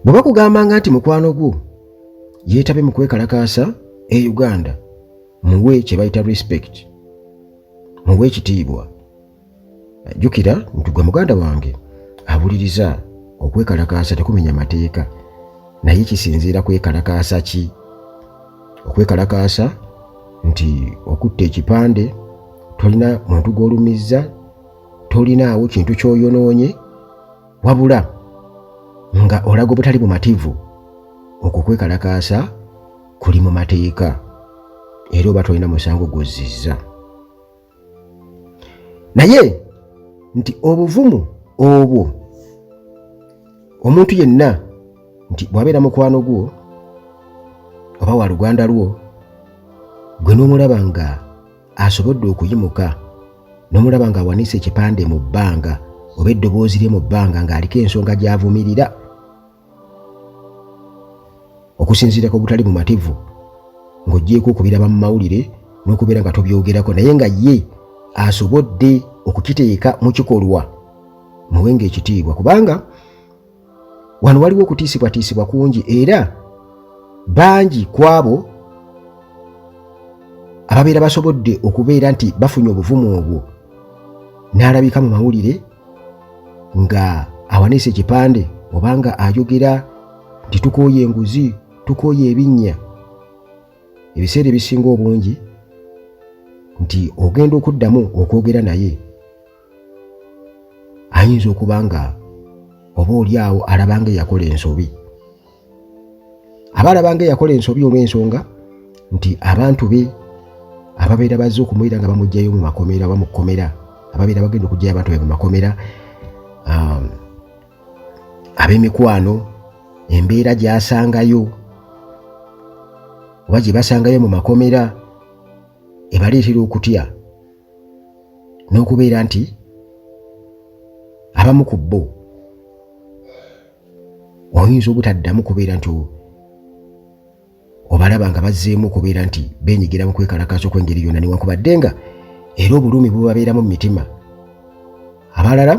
bwe bakugambanga nti mukwano gwo yeetabe mu kwekalakaasa e uganda muwe kye bayita respect muwe ekitiibwa jjukira nti gwe muganda wange abuliriza okwekalakaasa tekumenya mateeka naye kisinziira kwekalakaasa ki okwekalakaasa nti okutta ekipande tolina muntu gw'olumizza tolinaawo kintu ky'oyonoonye wabula nga olaga obutali bumativu okwo kwekalakaasa kuli mu mateeka era oba tolina musango gwozzizza naye nti obuvumu obwo omuntu yenna nti bw'abeera mukwano gwo oba wa luganda lwo gwe n'omulaba nga asobodde okuyimuka n'omulaba ng'awanise ekipande mu bbanga oba eddoboozi lye mu bbanga ng'aliko ensonga gy'avumirira okusinziira ku butali bumativu ng'oggyeeko okubiraba mu mawulire n'okubeera nga tobyogerako naye nga ye asobodde okukiteeka mu kikolwa muwenga ekitiibwa kubanga wano waliwo okutiisibwatiisibwa kungi era bangi ku abo ababeera basobodde okubeera nti bafunye obuvumu obwo n'alabika mu mawulire nga awanise ekipande oba nga ayogera nti tukooye enguzi tukooye ebinnya ebiseera ebisinga obungi nti ogenda okuddamu okwogera naye ayinza okuba nga oba oli awo alaba nga eyakola ensobi aba alaba nga eyakola ensobi olw'ensonga nti abantu be ababeera bazze okumwira nga bamugjayo mu makomera oba mu kkomera ababeera bagenda okugjayo abantu be mu makomera um, ab'emikwano embeera gyasangayo oba gye basangayo mu makomera ebaleetera okutya n'okubeera nti abamu ku bo oyinza obutaddamu kubeera nti obalaba nga bazzeemu okubeera nti benyigira mu kwekalakaasa okw'engeri yonna newankubadde nga era obulumi bubabeeramu mu mitima abalala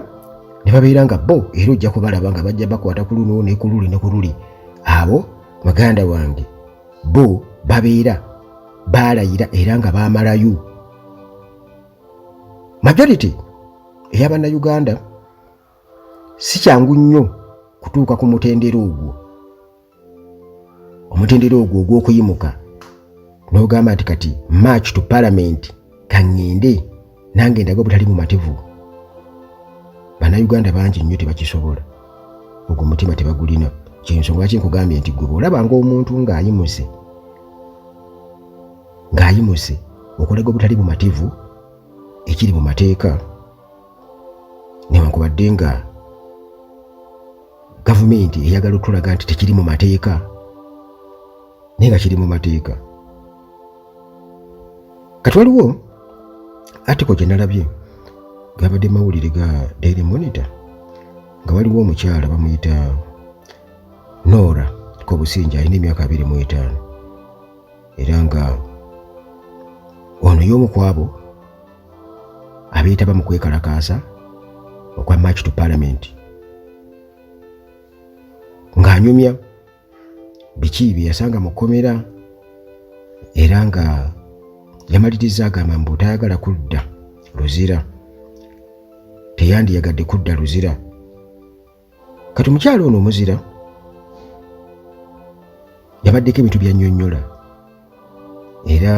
ne babeera nga bo era ojja kubalaba nga bajja bakwata ku luno ne ku luli ne ku luli abo muganda wange bo babeera baalayira era nga baamalayo majority eyabannayuganda si kyangu nnyo kutuuka ku mutendera ogwo omutendera ogwo ogw'okuyimuka n'ogamba nti kati march to palamenti kaŋŋende nange ndaga obutali mumativu bannayuganda bangi nnyo tebakisobola ogwo mutima tebagulina kyensonga ki nkugambye nti gwe bwolabanga omuntu ng'ayimuse ng'ayimuse okulaga obutali bumativu ekiri mu mateeka newankubadde nga gavumenti eyagala okutulaga nti tekiri mu mateeka naye nga kiri mu mateeka kati waliwo atiko gye nalabye gabadde mawulire ga daily monitor nga waliwo omukyala bamuyita noora kobusinja alina emyaka abiri mu etaano era nga ono y'omu ku abo abeetaba mu kwekalakaasa okwa march to parliament ng'anyumya biki bye yasanga mu kkomera era nga yamaliriza agamba mbu tayagala kudda luzira teyandiyagadde kudda luzira kati omukyalo ono omuzira yabaddeko ebintu byanyonyola era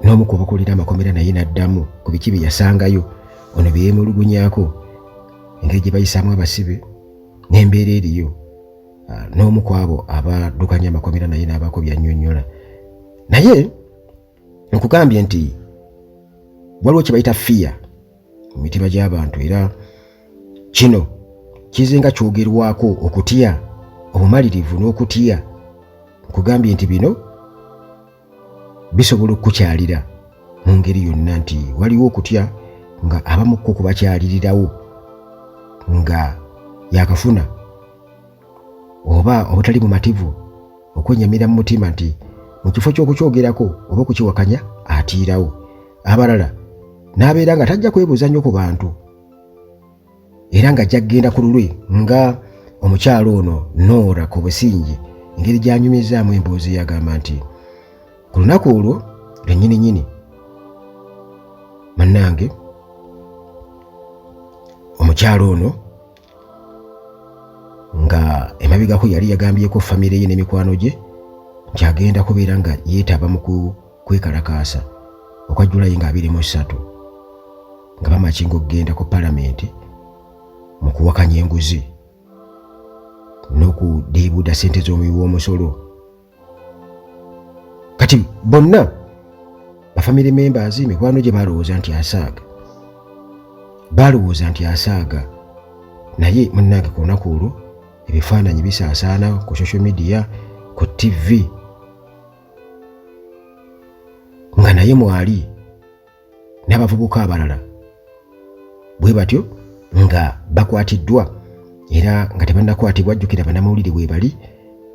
n'omu ku bakulira amakomera naye n'addamu ku biki bye yasangayo ono bye yeemulugunyako engeri gye bayisaamu abasibe n'embeera eriyo ah, n'omu ku abo abaddukanya amakomera naye n'abaako byannyonnyola naye nkugambye nti waliwo kye bayita fiya mu mitima gy'abantu era kino kize nga kyogerwako okutya obumalirivu n'okutya nkugambye nti bino bisobola okukukyalira mu ngeri yonna nti waliwo okutya nga abamukko kubakyalirirawo nga yakafuna oba obutali bumativu okwennyamira mu mutima nti mu kifo ky'okukyogerako oba okukiwakanya atiirawo abalala n'abeera nga tajja kwebuuza nnyo ku bantu era nga ajja kugenda ku lulwe nga omukyalo ono noora ku busingi engeri gy'anyumizaamu emboozi yagamba nti ku lunaku olwo lwennyini nyini bannange omukyalo ono nga emabegako yali yagambyeko famire ye n'emikwano gye nti agenda kubeera nga yeetaba mu kwekalakaasa okwa julayi nga abiri mu ssatu nga bamakinga okugenda ku palamenti mu kuwakanya enguzi n'okudiibuuda ssente z'omuwi w'omusolo kati bonna bafamily members mikwano gye balowooza nti asaaga balowooza nti asaaga naye munnange ku lunaku olwo ebifaananyi bisaasaana ku social media ku ttivi nga naye mwali n'abavubuka abalala bwe batyo nga bakwatiddwa era nga tebannakwatibwa jjukira banamawulire weebali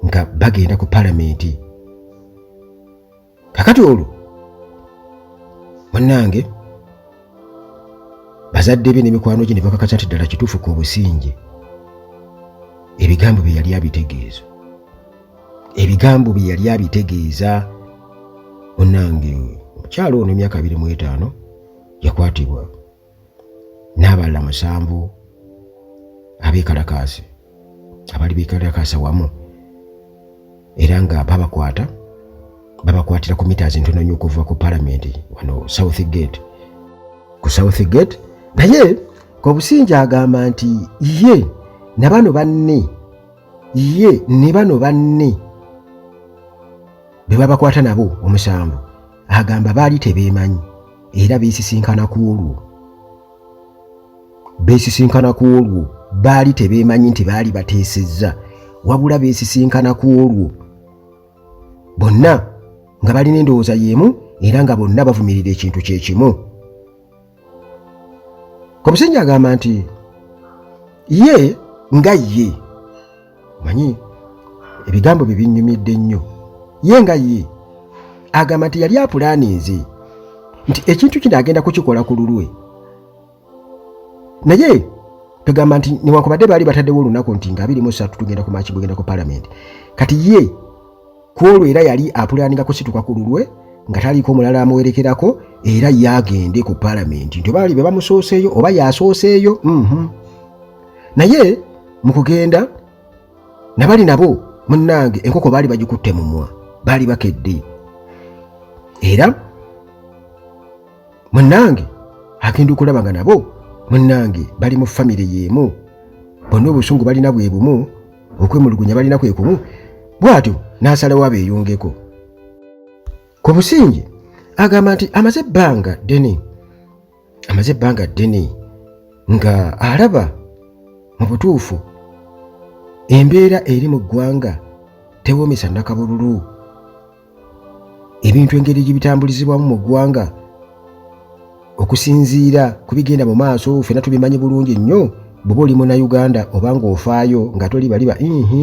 nga bagenda ku palamenti kakati olwo bannange bazadde be n'emikwano gye ne bakakasa nti ddala kituufu ku obusinge ebigambo bye yali abitegeeza ebigambo bye yali abitegeeza munange omukyalo ono emyaka abiri mu etaano yakwatibwa n'abalala musanvu abeekalakaasi abali beekalakaasa wamu era nga babakwata babakwatira ku mita zintono nnyo okuva ku palamenti wano south gate ku south gate naye kobusinja agamba nti ye na bano banne ye ne bano banne be babakwata nabo omusango agamba baali tebeemanyi era beesisinkana ku olwo beesisinkana ku olwo baali tebeemanyi nti baali bateesezza wabula beesisinkana ku olwo bonna nga balina endowooza y'emu era nga bonna bavumirira ekintu kye kimu omusajja agamba nti ye nga ye manyi ebigambo bye binnyumidde nnyo ye nga ye agamba nti yali apulaaninze nti ekintu kino agenda kukikola ku lulwe naye tugamba nti newankubadde baali bataddewo olunaku nti nga abiri mu ssatu tugenda ku maaki gugenda ku palamenti kati ye ku olwo era yali apulaaninga kusituka ku lulwe nga taliiko mulala amuwerekerako era yaagende ku palamenti nti obaali be bamusooseeyo oba yaasooseeyo mhm. naye mu kugenda nabali nabo munnange enkoko baali bagikutte mumwa baali bakedde era munnange agenda okulaba nga nabo munnange bali mu famire y'emu bonna obusungu balina bwe bumu okwemulugunya balina kwe kumu bw'atyo n'asalawo abeeyungeko ku businge agamba nti amaze ebbanga ddene amaze ebbanga ddene nga alaba mu butuufu embeera eri mu ggwanga tewoomesa nakabululu ebintu engeri gye bitambulizibwamu mu ggwanga okusinziira ku bigenda mu maaso ffena tubimanyi bulungi nnyo bw'oba oli munauganda oba ng'ofaayo nga toli baliba ihi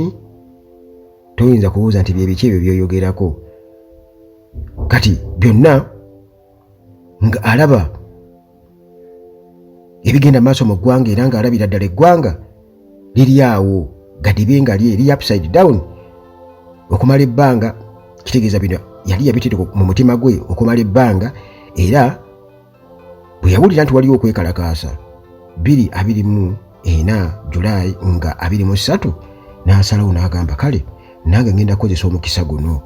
toyinza kubuuza nti byebiki ebyo byoyogerako kati byonna nga alaba ebigenda maaso mu ggwanga era nga alabira ddala eggwanga liri awo gadibe nga lye liri upside down okumala ebbanga kitegeeza bino yali yabitire mu mutima gwe okumala ebbanga era bwe yawulira nti waliwo okwekalakaasa biri abiri mu ena julayi nga abiri mu ssatu n'asalawo n'agamba kale nange ngenda kukozesa omukisa guno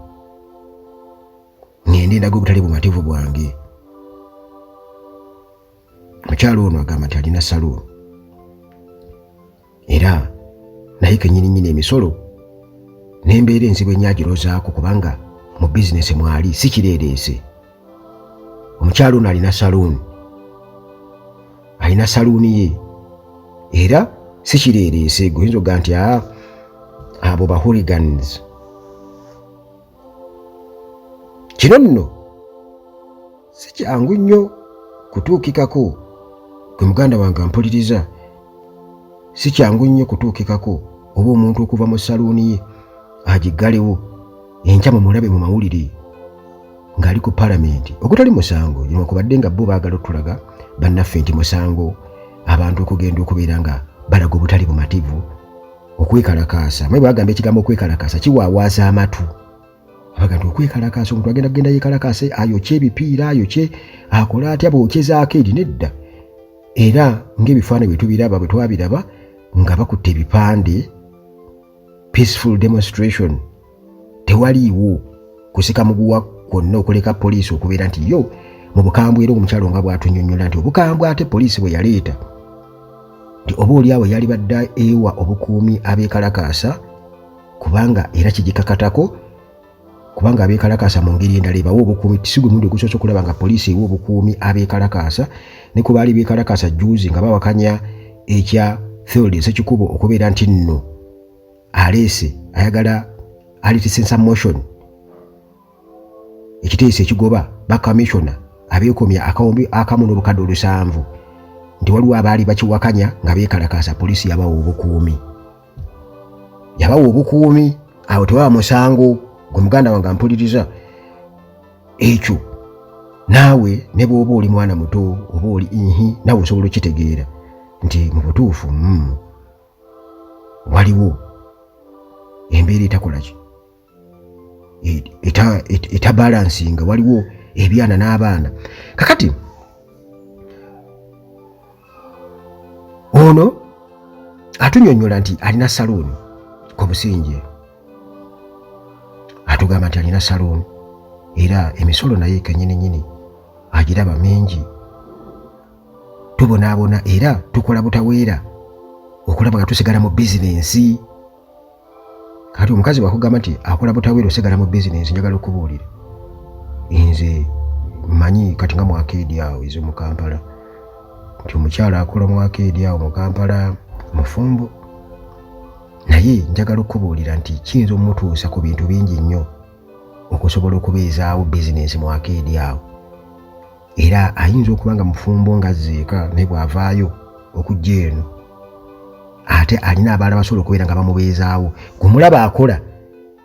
ngende ndaga obutali bumativu bwange mukyalo ono agamba nti alina saluuni era naye kenyininyini emisolo nembeera enzibu enyagirozaako kubanga mu bizinesi mwali si kireereese omukyalo ono alina saluuni alina saluuni ye era si kireereese guyinza okuga nti abo bahuligans kino nno si kyangu nnyo kutuukikako gwe muganda wange ampuliriza si kyangu nnyo kutuukikako oba omuntu okuva mu saluuni ye agiggalewo enkya mu mulabe mu mawulire ng'ali ku palamenti ogutali musango newankubadde nga bo baagala otulaga bannaffe nti musango abantu okugenda okubeera nga balaga obutali bumativu okwekalakaasa mayibu agamba ekigambo okwekalakaasa kiwaawaaza amatu abaga nti okwekalakaasa omuntu agenda kugenda yekalakaase ayokye ebipiira ayokye akole atya bwokyezaako eri nedda era ng'ebifaananyi bwe tubiraba bwe twabiraba nga bakutte ebipande peaceful demonstration tewaliiwo kusika muguwa kwonna okuleka poliisi okubeera nti yo mu bukambwe era omukyalo nga bwatunyonyola nti obukambwe ate poliisi bwe yaleeta nti oba oliawo yali badda ewa obukuumi abeekalakaasa kubanga era kigikakatako kubanga abeekalakaasa mu ngeri endala ebawa obukuumi tisigwe mundi ogusoose okulaba nga poliisi ewa obukuumi abeekalakaasa ne ku baali beekalakaasa juuzi nga bawakanya ekya field esekikubo okubeera nti nno aleese ayagala alitisensa motion ekiteeso ekigoba bakamissiona abeekomya akawumbi akamu n'obukadde olusanvu nti waliwo abaali bakiwakanya nga beekalakaasa poliisi yabawa obukuumi yabawa obukuumi awo tewaba musango gwe muganda wange ampuliriza ekyo naawe ne bw'oba oli mwana muto oba oli ihi naawe osobola okitegeera nti mu butuufu mm. waliwo embeera etakolaki etabalansinga waliwo ebyana n'abaana kakati ono atunyonyola nti alina saluuni ku businje atugamba nti alina saluuni era emisolo naye kenyini nyini agiraba mingi tubonaabona era tukola butaweera okulaba nga tusigala mu bizinensi kati omukazi wakugamba nti akola butaweera osigala mu bizinensi njagala okubuulira nze manyi kati nga mwakeedi awo ezo mu kampala nti omukyala akola mwakeedi awo mu kampala mufumbo naye njagala okubuulira nti kiyinza omutuusa ku bintu bingi nnyo okusobola okubeezaawo bizinensi mu akeedi awo era ayinza okuba nga mufumbo nga zeeka naye bw'avaayo okujja eno ate alina abaala basobola okubeera nga bamubeezaawo gumulaba akola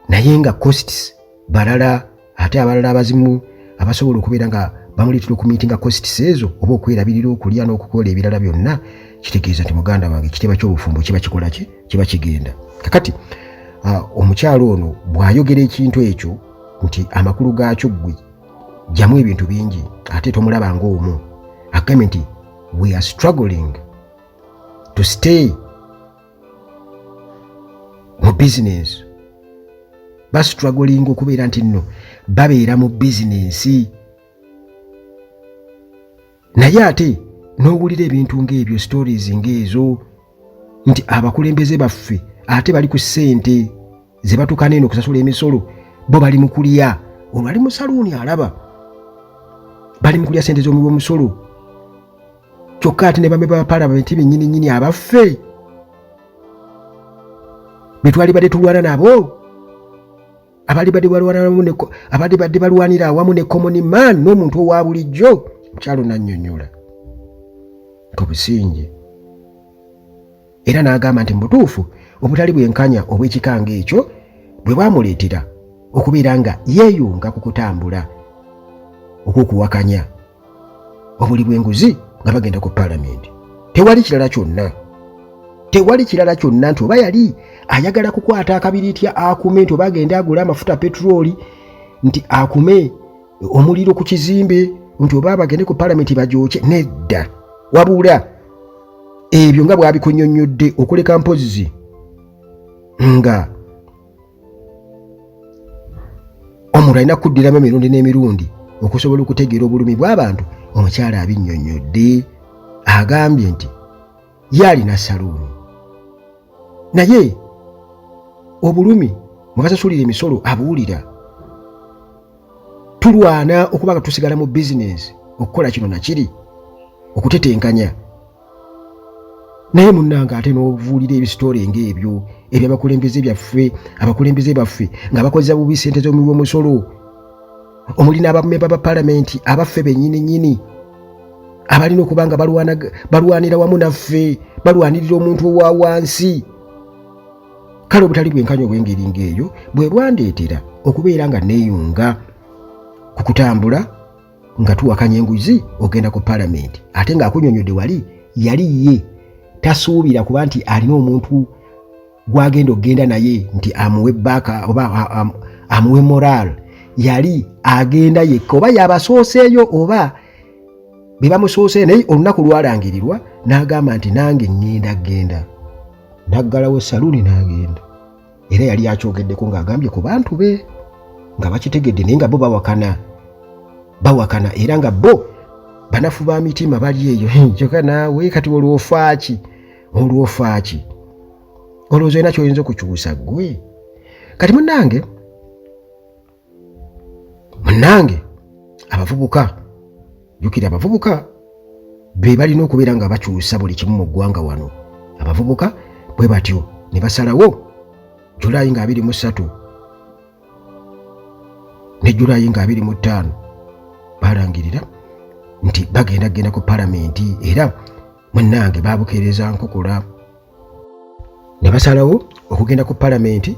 naye nga costs balala ate abalala abazimu abasobola okubeera nga bamuleetera okumiitinga costs ezo oba okwerabirira okulya n'okukola ebirala byonna kitegeeza nti muganda wange ekitiibwa ky'obufumbo kiba kikola ki kiba kigenda kakati ah, omukyalo ono bw'ayogera ekintu ekyo nti amakulu gaakyo ggwe jamu ebintu bingi ate tomulaba ng'omu agambe nti we are struggling to stay mu bizinensi bastruggling okubeera nti nno babeera mu bizinensi naye ate n'owulira ebintu ng'ebyo stories ng'ezo nti abakulembeze baffe ate bali ku ssente ze batukana eno okusasula emisolo bo bali mu kulya olwo ali mu saluuni alaba bali mu kulya ssente z'omuwi w'omusolo kyokka ate ne bame ba palamenti bennyini nnyini abaffe be twalibadde tulwana nabo abali badde balwanira awamu ne komoni man n'omuntu owa bulijjo mukyalo nanyonyola obusinge era n'agamba nti mubutuufu obutali bwenkanya obw'ekikanga ekyo bwe bwamuleetera okubeera nga yeeyunga ku kutambula okw'okuwakanya obuli bw'enguzi nga bagenda ku paalamenti tewali kirala kyonna tewali kirala kyonna nti oba yali ayagala kukwata akabiriiti akume nti oba agende agule amafuta peturooli nti akume omuliro ku kizimbe nti oba abagende ku paalamenti bagyokye nedda wabula ebyo nga bwabikunyonnyodde okuleka mpozzi nga omuntu alina kuddiramu emirundi n'emirundi okusobola okutegeera obulumi bw'abantu omukyala abinnyonnyodde agambye nti ye alina saluuni naye obulumi mwe basasulira emisolo abuwulira tulwana okuba nga tusigala mu bizinensi okukola kino nakiri okutetenkanya naye munnange ate n'obuvuulira ebisitole ng'ebyo ebyo abakulembeze byaffe abakulembeze baffe nga bakozesa bubi ssente z'omuwi w'omusolo omuli n'abamemba ba palamenti abaffe bennyini nnyini abalina okuba nga balwanira wamu naffe balwanirira omuntu owa wansi kale obutali bwenkanya obw'engeri ng'eyo bwe bwandeetera okubeera nga neeyunga ku kutambula nga tuwakanya enguzi ogenda ku palamenti ate ng'akunyonyodde wali yali ye tasuubira kuba nti alina omuntu gwagenda okugenda naye nti amuwe baaka oba amuwe moral yali agenda yekka oba yabasooseeyo oba be bamusooseeyo naye olunaku lwalangirirwa n'agamba nti nange ŋŋenda genda naggalawo saluuni n'agenda era yali akyogeddeko ng'agambye ku bantu be nga bakitegedde naye nga bo bawakana bawakana era nga bo banafu ba mitima bali eyo kyoka naawe kati olwofaaki olwofaaki olowooza olina kyoyinza okukyusa gwe kati munange munnange abavubuka jukira abavubuka be balina okubeera nga bakyusa buli kimu mu ggwanga wano abavubuka bwe batyo ne basalawo julayi nga abiri mu ssatu ne julayi nga abiri mu ttaano balangirira nti bagenda kugenda ku palamenti era munnange babukeereza nkukula ne basalawo okugenda ku palamenti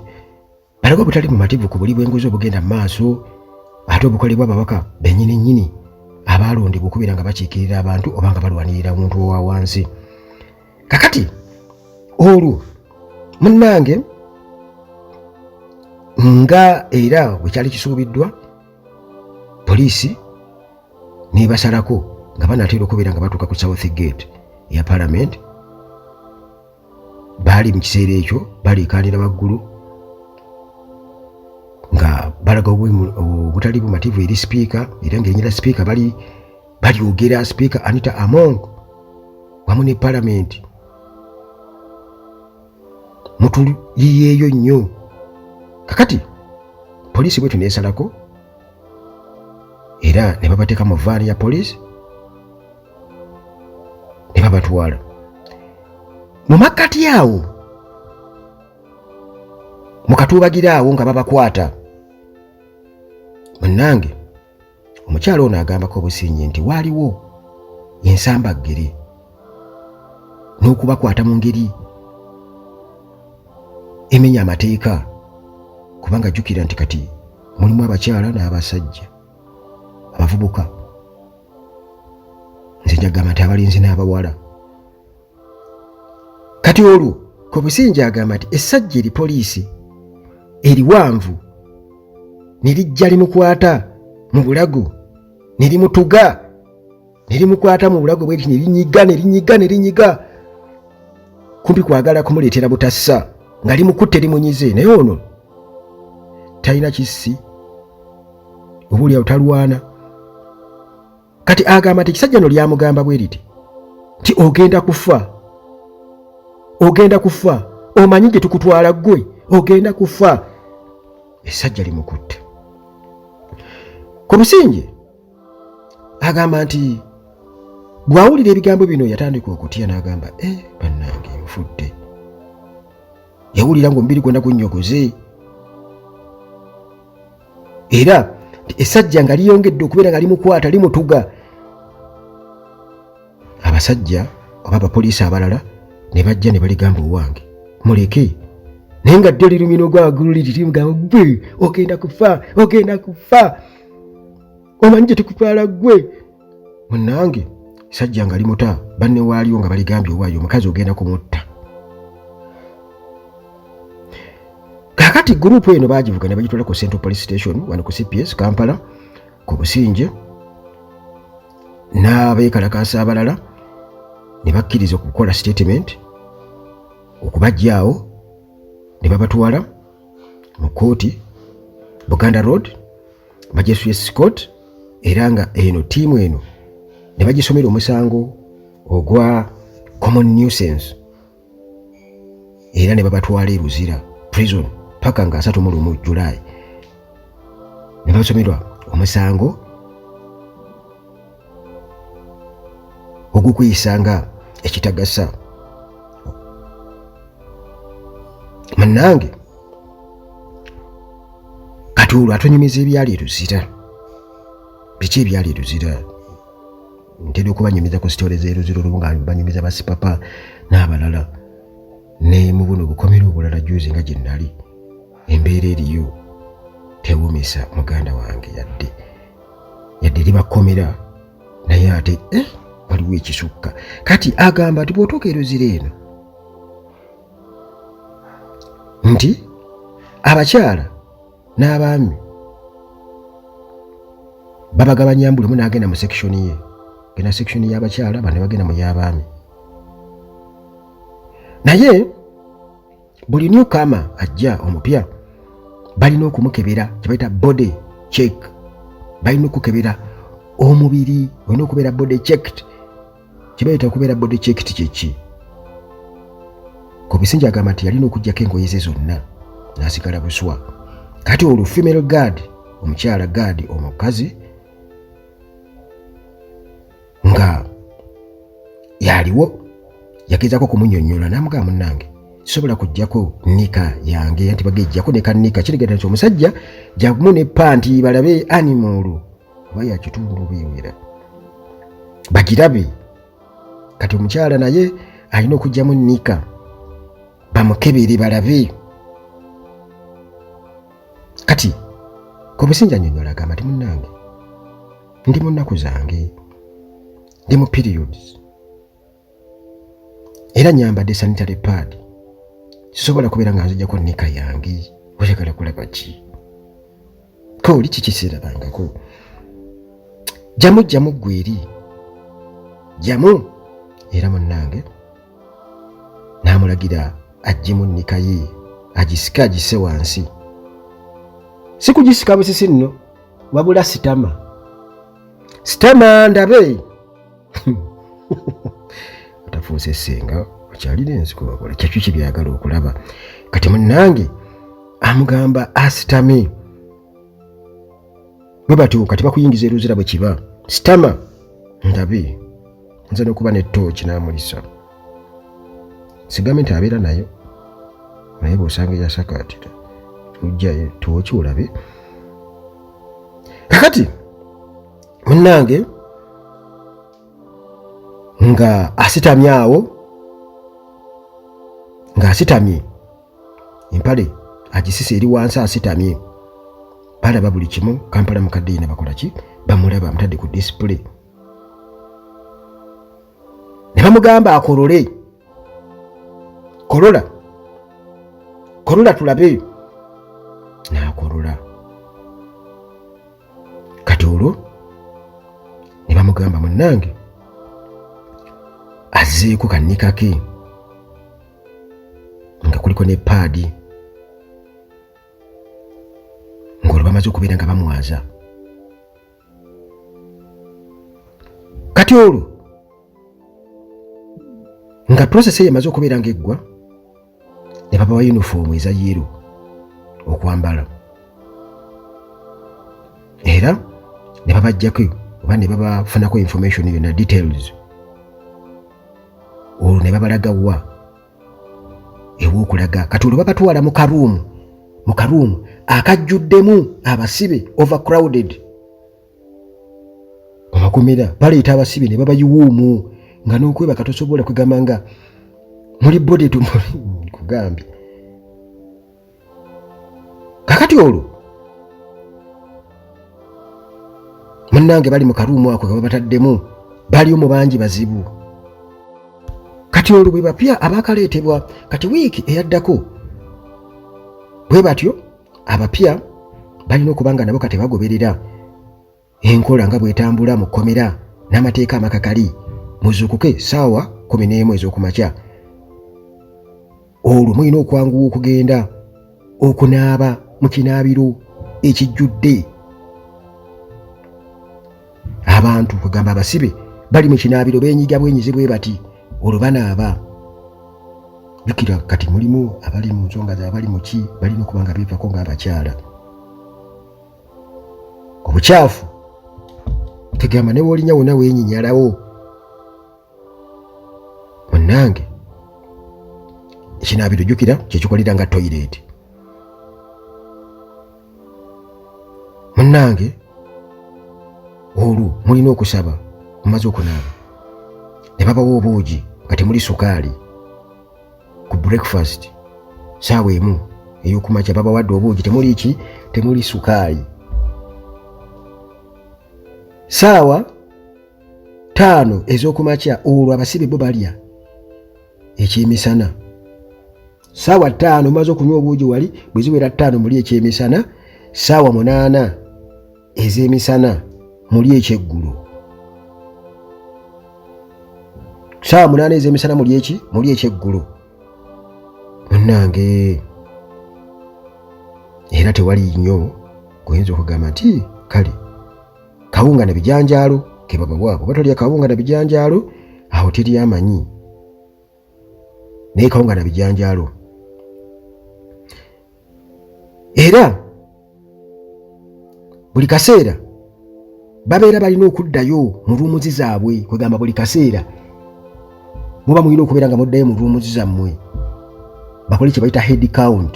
alaga obutali mumativu ku buli bw'enguzi obugenda mu maaso ate obukolebwa ababaka bennyini nnyini abaalondebwa okubeera nga bakiikirira abantu oba nga balwanirira omuntu owa wansi kakati olwo munnange nga era bwe kyali kisuubiddwa poliisi nebasalako nga banatera okubeera nga batuuka ku south gate ya palamenti baali mu kiseera ekyo baleekaanira waggulu nga balaga obutali bumativu eri sipiika era ng'erinnya lya sipiika bali balyogera sipiika anita among wamu ne palamenti mutuyiyeeyo nnyo kakati poliisi bwetyo neesalako era ne babateeka mu vaani ya poliisi ne babatwala mu makkati awo mu katuubagira awo nga babakwata munnange omukyala ono agambako obusinyi nti waaliwo ensambaggere n'okubakwata mu ngeri emenya amateeka kubanga jjukira nti kati mulimu abakyala n'abasajja abavubuka nze njagamba nti abalinzi n'abawala kati olwo kobusinja agamba nti essajja eri poliisi eriwanvu ne lijja limukwata mu bulago ne limutuga ne limukwata mu bulago bweti ne linyiga ne linyiga ne linyiga kumpi kwagala kumuleetera butassa nga limukutte limunyize naye ono talina kissi obuulyawo talwana kati agamba nti ekisajja no lyamugamba bwe liti nti ogenda kufa ogenda kufa omanyi gye tukutwala ggwe ogenda kufa esajja limukutte ku businge agamba nti bw'awulira ebigambo bino yatandika okutya n'agamba e eh, bannange nfudde yawulira ng'omubiri gwonna gunnyogoze era esajja nga liyongedde okubeera nga limukwata limutuga abasajja oba abapoliisi abalala ne bajja ne baligamba owange muleke naye nga dde lirumina ogwagululiririmugamba gwe ogenda kufa ogenda kufa omanyi gye tukutwala gwe munange sajja nga limuta banne waaliwo nga baligambye owaayo omukazi ogenda kumutta kakati gurupu eno bagivuga ne bagitwala ku central police station wano ku cps kampala ku businje n'abeekalakaasa abalala ne bakkiriza okukola sitatimenti okubajjaawo ne babatwala mu kkooti buganda road bajesuye scott era nga eno tiimu eno ne bagisomera omusango ogwa common nuisance era ne babatwala e luzira prison paka nga asatu mu lumu julayi ne basomerwa omusango ogukuyisa nga ekitagasa munange kati olwo atonyumiza ebyali eruzira biki ebyali eruzira ntera okubanyumiza ku sitole zeruzira olubu nga banyumiza basipapa n'abalala ne mu buno obukomera obulala juzi nga gye nnali embeera eriyo tewumisa muganda wange yadde yadde libakomera naye ate eh, waliwo ekisukka kati agamba nti bwotuuka eruzira eno nti abakyala n'abaami babagabanya mbu lumu n'agenda mu sekishoni ye gena sekishoni y'abakyala bane bagenda mu y'abaami naye buli new kama ajja omupya balina okumukebera kyebayita body check balina okukebera omubiri olina okubeera body checked kyebayita okubeera body checked kyeki kubisinja agamba nti yalina okujjako engoye ze zonna nasigala buswa kati olwo female guard omukyala guard omukazi nga yaliwo yagezaako okumunyonyola namugaa munange sobola kujjako nika yange anti bagejjako ne kanika kiregeta nti omusajja jagumu ne panti balabe animolo oba yakitundu bewera bagirabe kati omukyala naye alina okujjamu nika bamukebere balabe kati komusinja nyonyola agamba ti munange ndi mu nnaku zange ndi mu periods era nyambadde sanitary pad sisobola kubeera nga nzijako nika yange oyagala kulaba ki ko oli kikiseerabangako jamu jamu ggwe eri jamu era munnange n'amulagira ajjemu nika ye agisike agisse wansi si kugisika busisi nno wabula sitama sitama ndabe otafuuse senga okyalina ensiko wakola kyakyo kyebyagala okulaba kati munange amugamba asitame bwe batyo kati bakuyingiza eruzira bwe kiba sitama ndabe nze nokuba ne tooki namulisa sigambe nti abeera nayo naye bwosanga eyasakaatira ojjayo tooki olabe kakati munnange nga asitamye awo nga asitamye empale agisisa eri wansi asitamye balaba buli kimu kampala mukadde yina bakola ki bamulaba amutadde ku disipule ne bamugamba akolole kolola kolola tulabe n'akolola kati olwo ne bamugamba munnange azzeeko kannika ke nga kuliko ne paadi ng'olwo bamaze okubeera nga bamwaza kati olwo nga process eyo emaze okubeera ngaeggwa ne babawa yunifoomu eza yero okwambala era ne babajjako oba ne babafunako information yona details olwo ne babalaga wa ew'okulaga kati olwo babatwala mu karuumu mu karuumu akajjuddemu abasibe overcrowded obakomera baleeta abasibe ne babayiwuumu nga n'okwebaka tosobola kwegamba nga muli body to kugambye kakati olwo munnange bali mu karuumu ako kebabataddemu bali omu bangi bazibu kati olwo bwe bapya abaakaleetebwa kati wiiki eyaddako bwe batyo abapya balina okuba nga nabo kati bagoberera enkola nga bw'etambula mu kkomera n'amateeka amakakali muzuukuke ssaawa kumi n'emu ez'okumakya olwo mulina okwanguwa okugenda okunaaba mu kinaabiro ekijjudde abantu kugamba abasibe bali mu kinaabiro benyiga bwenyize bwe bati olwo banaaba jukira kati mulimu abali mu nsonga zabali muki balina okuba nga beevako ng'abakyala obukyafu tegamba ne wolinya wona wenyinyalawo munange ekinaabiro jukira kyekikolera nga toyireti munange olwo mulina okusaba mumaze okunaaba ne babawa obuugi nga temuli sukaali ku breakfast saawa emu eyokumakya babawadde obuugi temuli ki temuli sukaali saawa taano ezokumakya olwo abasibe bo balya ekyemisana saawa taano mumaze okunywa obuugi wali bweziwera taano muli ekyemisana saawa munaana ez'emisana muli ekyeggulo saawa munaana ez'emisana muli eki muli ekyeggulo munnange era tewali nnyo guyinza okugamba nti kale kawunga na bijanjaalo kebabawaabo batolya kawunga na bijanjaalo awo teri amanyi naye kawunga na bijanjaalo era buli kaseera babeera balina okuddayo mu ruumuzi zaabwe kwegamba buli kaseera muba mulina okubeera nga muddayo mu ruumuzi zammwe bakole kye bayita head count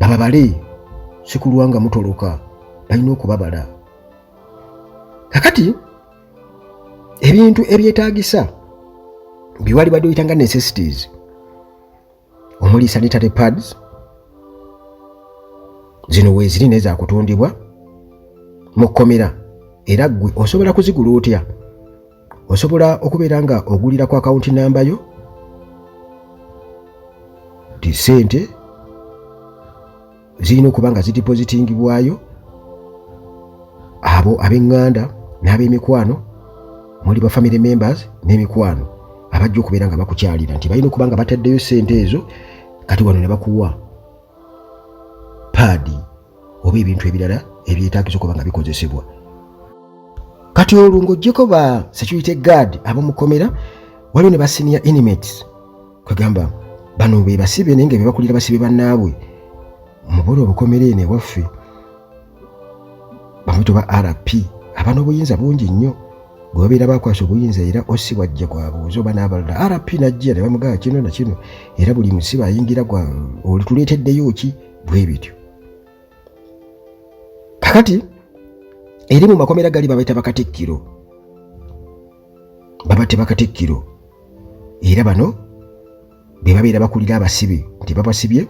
bababale sikulwa nga mutoloka balina okubabala kakati ebintu ebyetaagisa biwali badde oyita nga necessities omuli sanitary pads zino weeziri naye zakutundibwa mu kkomera era ggwe osobola kuzigula otya osobola okubeera nga ogulira ku akawunti namba yo ti sente zirina okuba nga zidipozitingibwayo abo ab'eŋŋanda n'ab'emikwano muli ba family members n'emikwano abajja okubeera nga bakukyalira nti balina okuba nga bataddeyo ssente ezo kati wano ne bakuwa paadi oba ebintu ebirala ebyetaagisa okuba nga bikozesebwa kati olwo ng'oggyeko ba security guard ab'omukomera waliwo ne ba senior inmates kwegamba bano be basibe naye nga bebakulira basibe bannaabwe mubona obukomera eno ewaffe bamuyita oba rp aba n'obuyinza bungi nnyo gwe babeera bakwasa obuyinza era osi wajja gwabuuza oba n'abalala rp najja ne bamugaa kino na kino era buli musibe ayingira gwa olituleeteddeyo ki bwe bityo kakati eri mu makomera gali babaita bakatikkiro babateba katikkiro era bano be babeera bakulira abasibe nti babasibye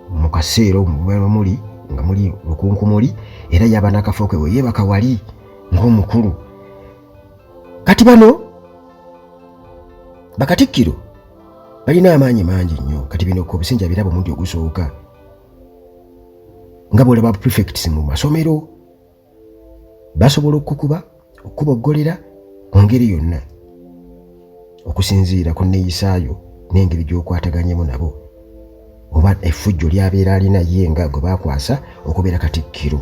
mu kaseera omubeera muli nga muli lukunkumuli era yaba n'akafo ke we yeebaka wali ng'omukulu kati bano bakatikkiro balina amaanyi mangi nnyo kati bino ku obusinja birabo omundi ogusooka nga bwolaba prefects mu masomero basobola okukuba okukuboggolera mu ngeri yonna okusinziira ku nneeyisaayo n'engeri gy'okwataganyemu nabo oba effujjo lyabeera alina ye nga gwe baakwasa okubeera katikkiro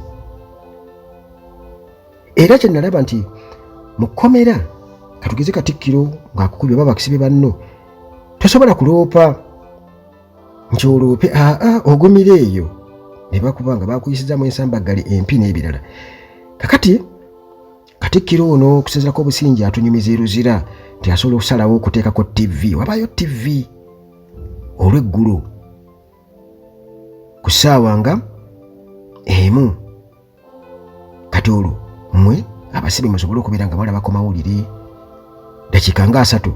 era kye nalaba nti mu kkomera katugeze katikkiro ng'akukubye oba bakisibe banno tosobola kuloopa nti oloope aa ogumira eyo ne bakuba nga bakuyisizamu ensambaggale empi n'ebirala kakati katikkiro ono okusinzirako obusingi atunyumiza eruzira nti asobola okusalawo okuteekako ttivi wabaayo ttivi olw'eggulo ku ssaawa nga emu kati olwo mmwe abasibe musobole okubeera nga balaba ku mawulire dakiika nga asatu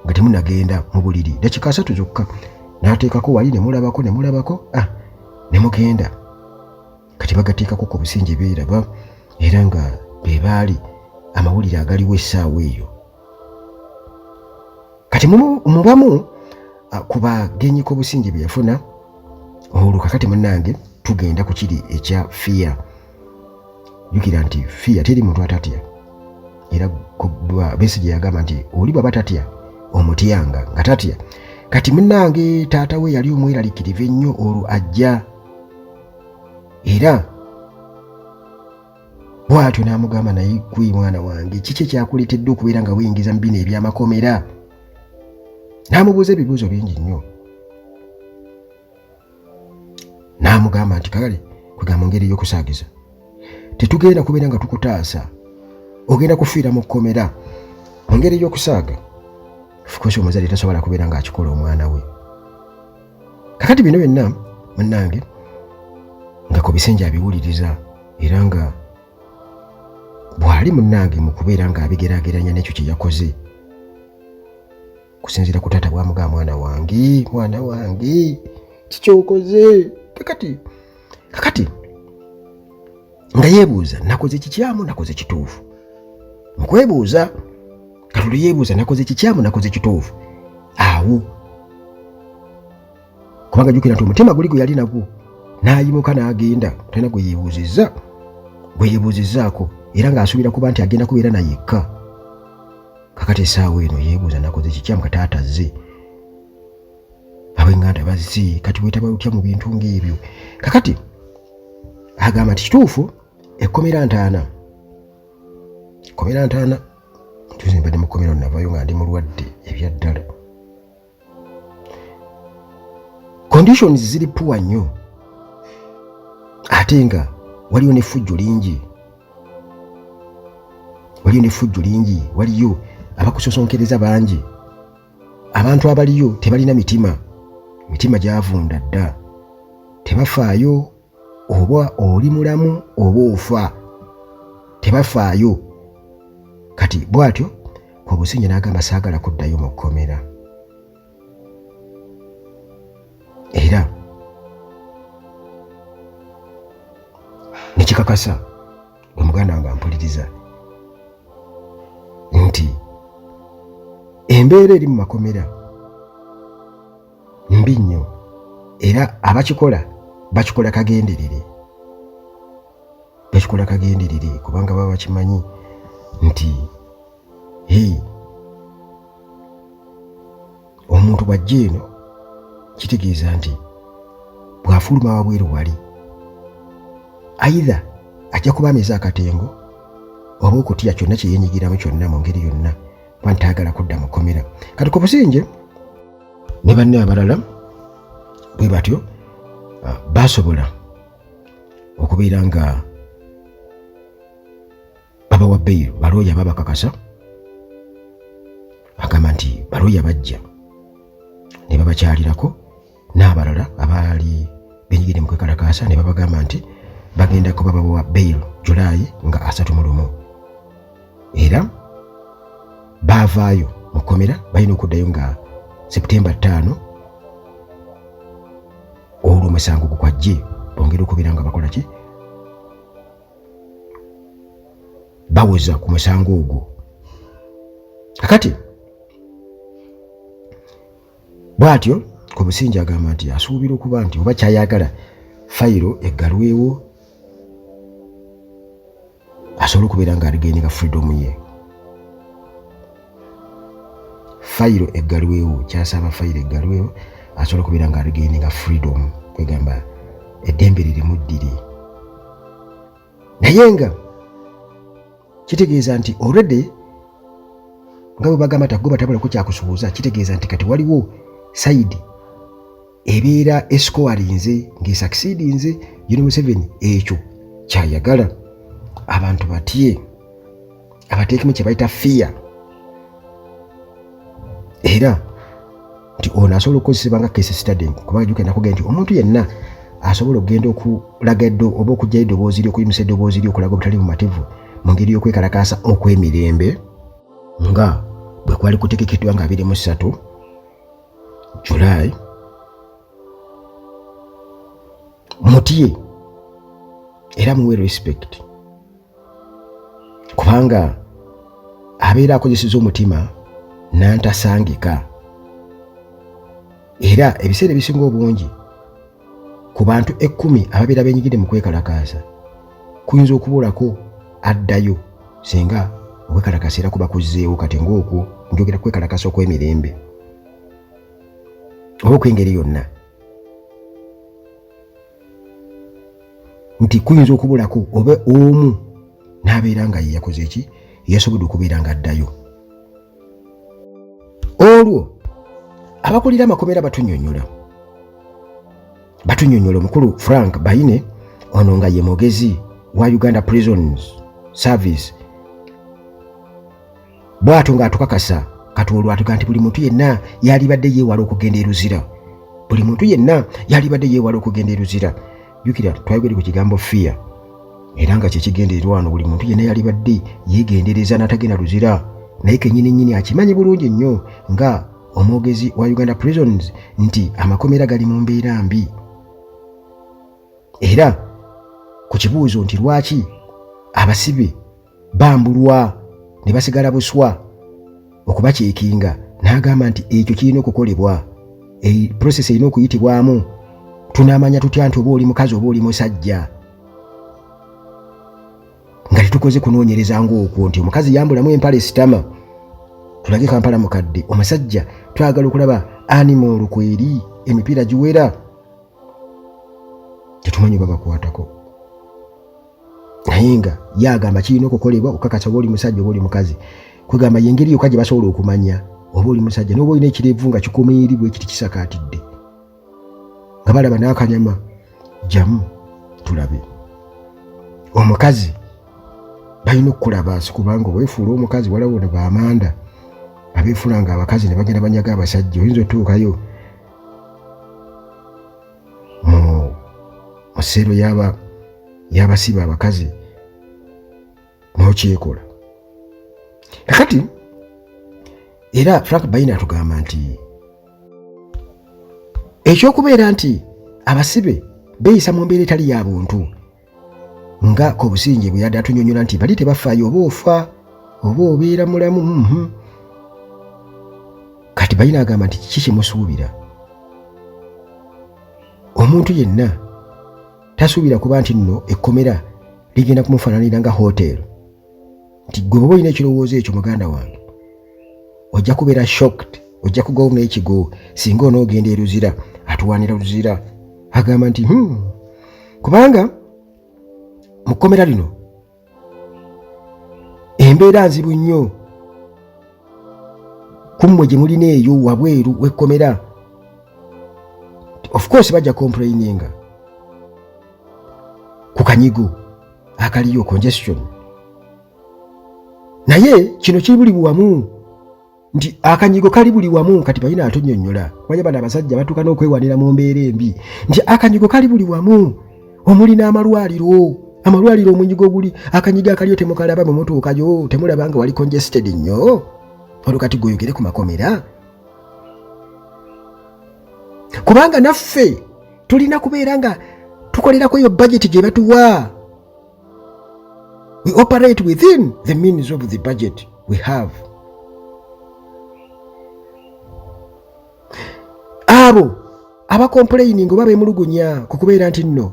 nga temunagenda mu buliri dakiika asatu zokka n'ateekako wali ne mulabako ne mulabako ah, ne mugenda kati bagateekako ku businge beeraba era nga be baali amawulire agaliwo essaawa eyo kati mubamu ah, ku bagenyi k'obusinge bye yafuna olwo kakati munange tugenda ku kiri ekya fiya jukira nti fiya teri muntu atatya era besi gye yagamba nti oli bwaba tatya omutyanga nga tatya kati munange taata we yali omweralikirivu ennyo olwo ajja era bw'atyo n'amugamba naye gwe mwana wange kiki ekyakuleetedde okubeera nga weyingiza mu bino eby'amakomera n'amubuuza ebibuuzo bingi nnyo n'amugamba nti kale kwegamba ngeri ey'okusaagiza tetugenda kubeera nga tukutaasa ogenda kufiira mu kkomera mu ngeri y'okusaaga ofikosi omuzadde tasobola kubeera ng'akikola omwana we kakati bino byonna munnange nga ku bisenge abiwuliriza era nga bw'ali munnange mu kubeera ng'abigeraageranya n'ekyo kye yakoze kusinziira ku taata bwamugaa mwana wange mwana wange kikyokoze kakati kakati nga yeebuuza nakoze kikyamu nakoze kituufu mukwebuuza katuli yeebuuza nakoze kikyamu nakoze kituufu awo kubanga jukira nti omutima guli gwe yali nagwo n'ayimuka n'agenda talina gwe yeebuuzizza gwe yeebuuzizzaako era ng'asuubira kuba nti agenda kubeera na yekka kakati esaawa eno yeebuuza nakoze kikyamu kataatazze abenganda bazze kati wetaba lutya mu bintu ng'ebyo kakati agamba nti kituufu ekkomera ntaana kkomera ntaana tuze mbadde mu kkomera navayo nga ndi mulwadde ebyaddala conditions ziri puwa nnyo ate nga waliyo nefujjo lingi waliyo nefujjo lingi waliyo abakusosonkereza bangi abantu abaliyo tebalina mitima mitima gyavunda dda tebafaayo oba oli mulamu oba ofa tebafaayo kati bwatyo obusinja n'agamba saagala kuddayo mu kkomera era nekikakasa omuganda wange ampuliriza nti embeera eri mu makomera mbi nnyo era abakikola bakikola kagenderere bakikola kagenderere kubanga baba bakimanyi nti hii omuntu bw'ajja eno kitegeeza nti bw'afuluma wabweru wali aidha ajja kuba ameze akatengo oba okutya kyonna kye yenyigiramu kyonna mu ngeri yonna kuba ntaagala kudda mu kkomera kati ku businge ne banne abalala bwe batyo ah, baasobola okubeera nga babawa beyiro balooya babakakasa agamba nti balooya bajja ne babakyalirako n'abalala abaali benyigidde mu kwekalakaasa ne babagamba nti bagenda kuba babawa beyiro julaayi nga asatu mu lumu era baavaayo mu kkomera balina okuddayo nga seputemba ttaano olwo omusango gukwajje bongere okubeera nga bakola ki bawoza ku musango ogwo kakati bwatyo ku businja agamba nti asuubira okuba nti oba kyayagala fayiro eggalwewo asobole okubeera ng'aligendeka freedom ye fayiro eggalwewo kyasaba fayiro eggalwewo asobola okubeera nga aligende nga freedom kwegamba eddembe lirimu ddiri naye nga kitegeeza nti already nga bwe bagamba tagoba tabulako kyakusubuuza kitegeeza nti kati waliwo sayidi ebeera esikowalinze ng'esakisidinze yuni museveni ekyo kyayagala abantu batye abateekemu kye bayita fiya era nti ono asobola okukozesebwa nga kesi stading kuba ajuka enakuge nti omuntu yenna asobola okugenda okulaga eddo oba okugyayo eddoboozi ry okuyimusa eddoboozi ry okulaga obutali bumativu mu ngeri y'okwekalakaasa okw'emirembe nga bwe kwali kutegekeddwa nga abiri mu ssatu July mutye era muwe respect kubanga abeera akozeseza omutima nantasangika era ebiseera ebisinga obungi ku bantu ekkumi ababeera benyigidde mu kwekalakaasa kuyinza okubulako addayo singa okwekalakasa era kuba kuzzeewo kati ng'okwo njogera kwekalakasa okw'emirembe oba okw'engeri yonna nti kuyinza okubulako oba omu n'abeera nga yeyakoze ki yasobodde okubeera nga addayo olwo abakulira amakomera batunyonyola batunyonyola omukulu frank baine ono nga ye mugezi wa uganda prisons service bwato ng'atukakasa kati olwatuka nti buli muntu yenna yalibadde yeewala okugenda eruzira buli muntu yenna yalibadde yeewala okugenda eruzira jjukira twayogedde ku kigambo fear era nga kyekigendererwa wano buli muntu yenna yalibadde yeegendereza n'atagenda luzira naye kenyini nyini akimanyi bulungi nnyo nga omwogezi wa uganda prisons nti amakomera gali mu mbeera mbi era ku kibuuzo nti lwaki abasibe bambulwa ne basigala buswa okubaceekinga n'agamba nti ekyo kirina okukolebwa process erina okuyitibwamu tunaamanya tutya nti oba oli mukazi oba oli musajja nga tetukoze kunoonyereza ngaokwo nti omukazi yambulamu empala esitama tulage kampala mukadde omusajja twagala okulaba animal kweri emipiira giwera tetumanyi babakwatako naye nga ye agamba kirina okukolebwa okukakasa oba oli musajja oba oli mukazi kwegamba yengeri yokka gye basobola okumanya oba oli musajja noba olina ekirevu nga kikomeeri bwe kiti kisakaatidde nga balaba n'akanyama jamu tulabe omukazi balina okukulaba si kubanga owefuula omukazi walawo ne bamanda abeefuula nga abakazi ne bagenda banyaga abasajja oyinza otuukayo mu musero yaba yabasiba abakazi nokyekola kakati era frank bayina atugamba nti ekyokubeera nti abasibe beeyisa mu mbeera etali ya buntu nga ku businge bwe yadde atunyonyola nti bali tebafaayo oba ofa oba obeera mulamu mhm. kati balina agamba nti kiki kimusuubira omuntu yenna tasuubira kuba nti nno ekkomera ligenda kumufaananira nga hoteri nti gwe oba olina ekirowoozo ekyo muganda wange ojja kubeera shocked ojja kugawo n'ekigo singa onoogenda eruzira atuwanira luzira agamba nti hmm, kubanga mu kkomera lino embeera nzibu nnyo ku mmwe gye mulina eyo wabweru wekkomera of course bajja complaininga ku kanyigo akaliyo congestion naye kino kiri buli wamu nti akanyigo kali buli wamu kati balina atunyonyola kubanya bano abasajja batuuka n'okwewanira mu mbeera embi nti akanyigo kali buli wamu omuli n'amalwaliro amalwaliro omunyigo oguli akanyigo akaliyo temukalaba bwe mutuukayo temulaba nga wali congested nnyo olwo kati gweogere ku makomera kubanga naffe tulina kubeera nga tukolerako eyo bajeti gye batuwa we operate within the means of the budget we have abo abakompulayininga oba bemulugunya ku kubeera nti nno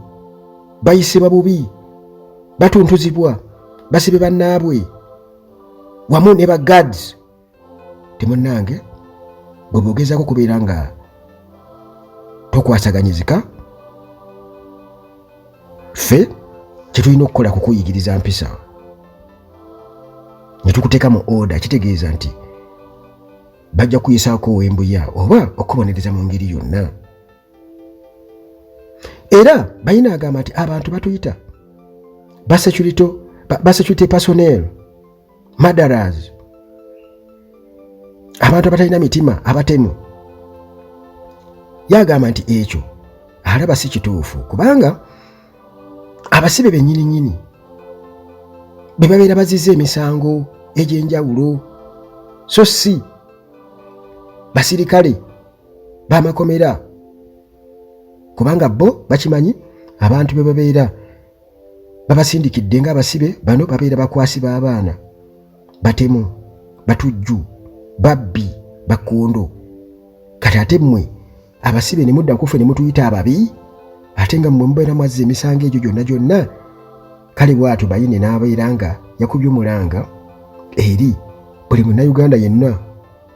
bayisibwa bubi batuntuzibwa basibe bannaabwe wamu ne ba guards temunange gwe bogezako kubeera nga tokwasaganyizika ffe kyetulina okukola kukuyigiriza mpisa netukuteeka mu oda kitegeeza nti bajja kuyisaako owembuya oba okubonereza mu ngeri yonna era bayina agamba nti abantu batuyita basecurity basecurity personnel madaras abantu abatalina mitima abatemu yagamba nti ekyo alaba si kituufu kubanga abasibe benyininyini bwe babeera baziza emisango egy'enjawulo so si basirikale bamakomera kubanga bo bakimanyi abantu be babeera babasindikidde nga abasibe bano babeera bakwasi b'abaana batemu batujju babbi bakkondo kati ate mmwe abasibe ne mudda nkufe ne mutuyita ababi ate nga mmwe mubeera mwazza emisango egyo gyonna gyonna kale bwatyo bayine n'abeera nga yakubye omulanga eri buli munnayuganda yenna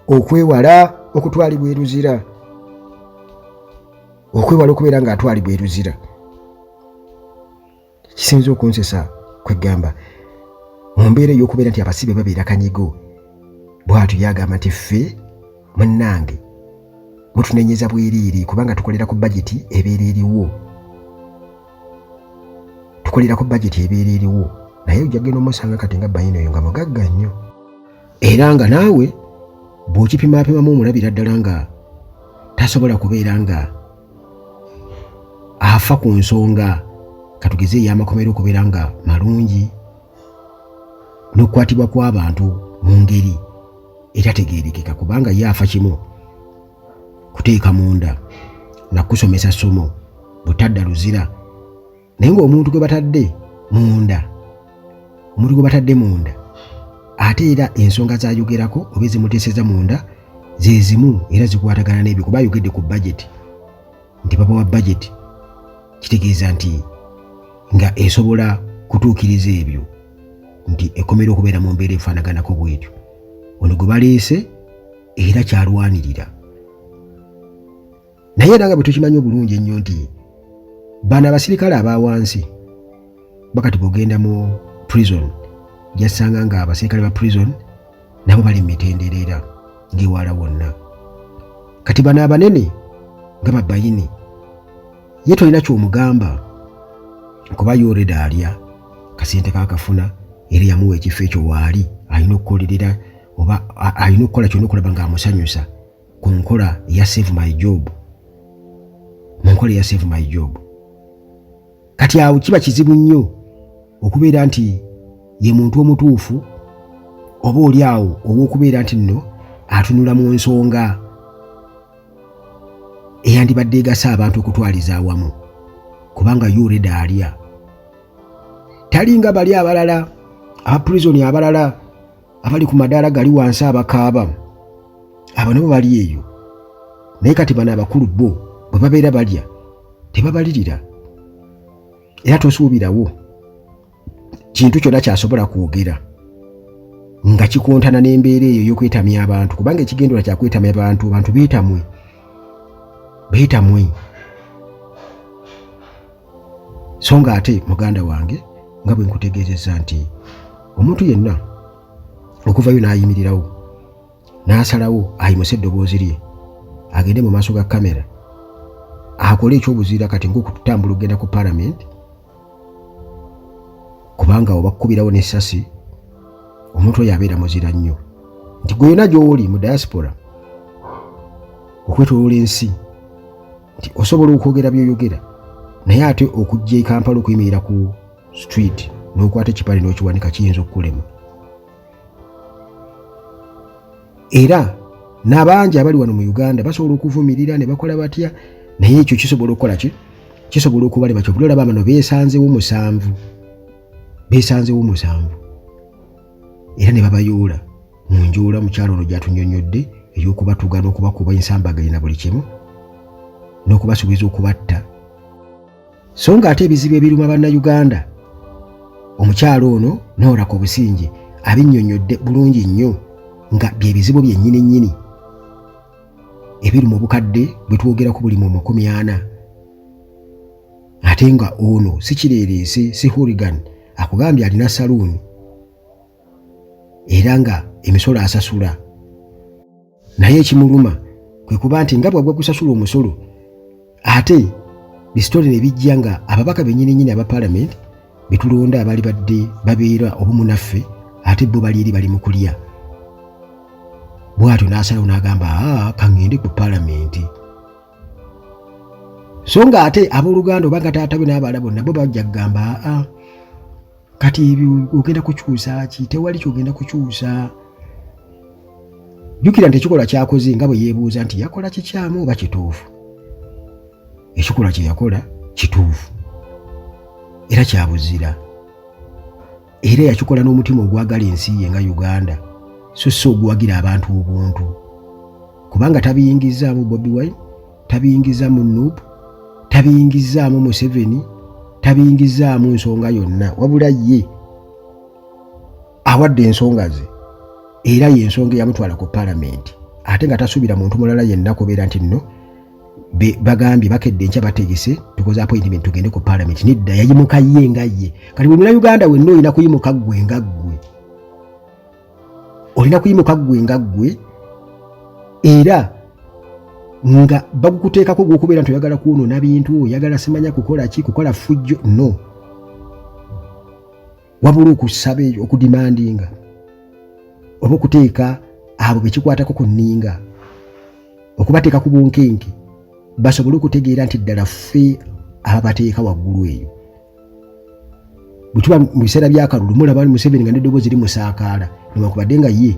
okwewala okutwalibwa eruzira okwewala okubeera ng'atwalibwa eruzira kisinza okunsesa kweggamba mu mbeera ey'okubeera nti abasibe babeera kanyigo bwatyo yagamba nti ffe munnange mutunenyeza bweriiri kubanga tukolera ku bajeti ebeera eriwo tukolera ku bajeti ebeera eriwo naye ojja kugenda omusanga kati nga bayina oyo nga mugagga nnyo era nga naawe bw'okipimaapimamu omulabira ddala nga tasobola kubeera nga afa ku nsonga katugeze ey'amakomera okubeera nga malungi n'okukwatibwa kw'abantu mu ngeri etategeerekeka kubanga ye afa kimu kuteeka munda na kusomesa ssomo butadda luzira naye ng'omuntu gwe batadde munda omuntu gwe batadde munda ate era ensonga zayogerako oba ezimuteeseza munda zezimu era zikwatagana n'ebyo kuba ayogedde ku bajeti nti baba wa bajeti kitegeeza nti nga esobola kutuukiriza ebyo nti ekomera okubeera mu mbeera efaanaganako bwetyo ono gwe baleese era kyalwanirira naye era nga bwe tukimanyi obulungi ennyo nti bano abasirikale aba wansi bakati bwogenda mu prison jasanga nga abasirikale ba prison nabo bali mu mitendereera ng'ewaala wonna kati bano abanene nga babayini ye tolina kyomugamba kuba yoreda alya kasente kakafuna era yamuwa ekifo ekyo waali alina okukolerera oba alina okukola kyona okulaba ng'amusanyusa ku nkola ya save my job mu nkola ya save my job kati awo kiba kizibu nnyo okubeera nti ye muntu omutuufu oba oli awo ow'okubeera nti nno atunula mu nsonga eyandibadde egasa abantu okutwaliza awamu kubanga yureda alya talinga bali abalala abapurizoni abalala abali ku madaala gali wansi abakaaba abo nabo bali eyo naye kati bano abakulu bo bwe babeera balya tebabalirira era tosuubirawo kintu kyonna kyasobola kwogera nga kikontana n'embeera eyo ey'okwetamya abantu kubanga ekigendera kya kwetamya abantu bantu beetamwe beetamwe so nga ate muganda wange nga bwe nkutegeezezza nti omuntu yenna okuvayo n'ayimirirawo n'asalawo ayimuse eddoboozi lye agende mu maaso ga kamera akole ekyobuzira kati ngaokutambula okugenda ku palamenti kubanga obakukubirawo n'essasi omuntu oyo abeera muzira nnyo nti gwe yona gy'oli mu diaspora okwetolola ensi nti osobola okwogera byoyogera naye ate okujja e kampala okuyimirira ku street n'okwata ekipale n'okiwanika kiyinza okukulema era n'abangi abali wano mu uganda basobola okuvumirira ne bakola batya naye ekyo kisobola okukola ki kisobola okubalema kyobula olaba bano beesanzewo musanvu beesanzewo musanvu era ne babayoola mu njoola mukyalo ono gy'atunyonnyodde ey'okubatuga n'okubakuba ensambaganye na buli kimu n'okubasuubiza okubatta so nga ate ebizibu ebiruma bannayuganda omukyalo ono nooraka obusingi abinnyonnyodde bulungi nnyo nga bye bizibu byennyini nnyini ebiri mu bukadde bwe twogerako buli mu makumi ana ate nga ono si kireereese si hurigan akugambye alina saluuni era nga emisolo asasula naye ekimuluma kwe kuba nti nga bwagwa kusasula omusolo ate bisitole ne bijja nga ababaka benyininyini aba palamenti betulonda abali badde babeera obumu naffe ate bo bali eri bali mu kulya bwatyo n'asalawo n'agamba kaŋŋende ku palamenti so nga ate abooluganda oba nga taata we n'abaala bonna bo bajja kugamba aa kati ebyo ogenda kukyusa ki tewali kyogenda kukyusa jjukira nti ekikolwa kyakoze nga bwe yeebuuza nti yakola kikyamu oba kituufu ekikolwa kye yakola kituufu era kyabuzira era yakikola n'omutima ogwagala ensi ye nga uganda so si oguwagira abantu obuntu kubanga tabiyingizzaamu bobi wine tabiyingizzaamu nup tabiyingizzaamu museveni tabiyingizzaamu nsonga yonna wabula ye awadde ensonga ze era yensonga eyamutwala ku palamenti ate nga tasuubira muntu mulala yenna kubeera nti nno bagambye bakedde enkya bategese tukoze appointment tugende ku parliament nedda yayimuka ye nga ye kati buli munauganda wenna olina kuyimuka ggwe nga ggwe olina kuyimuka ggwe nga ggwe era nga bagukuteekako gwokubeera nti oyagala kwonoona bintu oyagala simanya kukola ki kukola fujjo no wabula okusaba eyo okudimandinga oba okuteeka abo bekikwatako ku nninga okubateeka ku bunkenke basobole okutegeera nti ddala ffe ababateeka waggulu eyo bwetuba mu biseera byakalulu mulaba museveni nga neddoboozi eri musaakaala newankubadde nga ye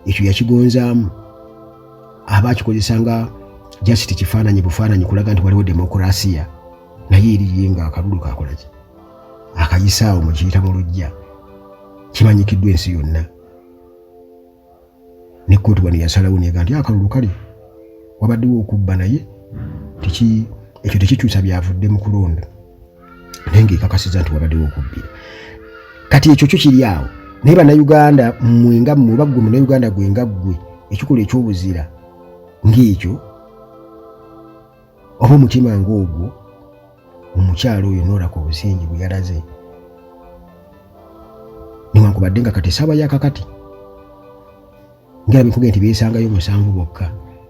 ekyo yakigonzaamu aba akikozesa nga jasiti kifaananyi bufaananyi kulaga nti waliwo demokurasiya naye eriye nga akalulu kakolaki akayisaawo mu kiyita mu lujja kimanyikiddwa ensi yonna ne kkooti wano yasalawo nega nti akalulu kale wabaddewo okubba naye ekyo tekikyusa byavudde mu kulonda naye ngaekakasiza nti wabaddewo okubbira kati ekyo kyo kiri awo naye bannayuganda mmwe nga mmwe oba ggwe munayuganda gwe nga ggwe ekikola ekyobuzira ng'ekyo oba omutima ng'ogwo omukyalo oyo noolaka obusingi bwe yalaze newankubadde nga kati esaaba ya kakati ngerabikuge nti beesangayo musanvu bokka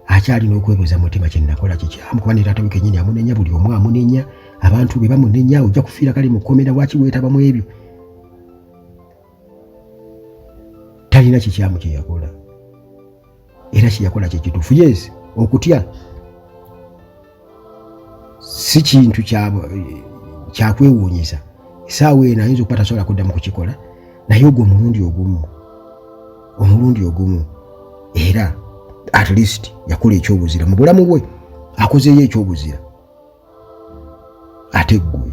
akyalina okwebuuza mutima kyenakola kikyamu kuba ne taata we kenyini amunenya buli omu amunenya abantu be bamunenya ojja kufiira kale mukomera waki weetaba mu ebyo talina kikyamu kyeyakola era kyeyakola kyekituufu yes okutya si kintu kyakwewuunyisa esaawa eno ayinza okuba tasobola kuddamu kukikola naye ogwo omulundi ogumu omulundi ogumu era at least yakola ekyobuzira mu bulamu bwe akozeeyo ekyobuzira ate ggwe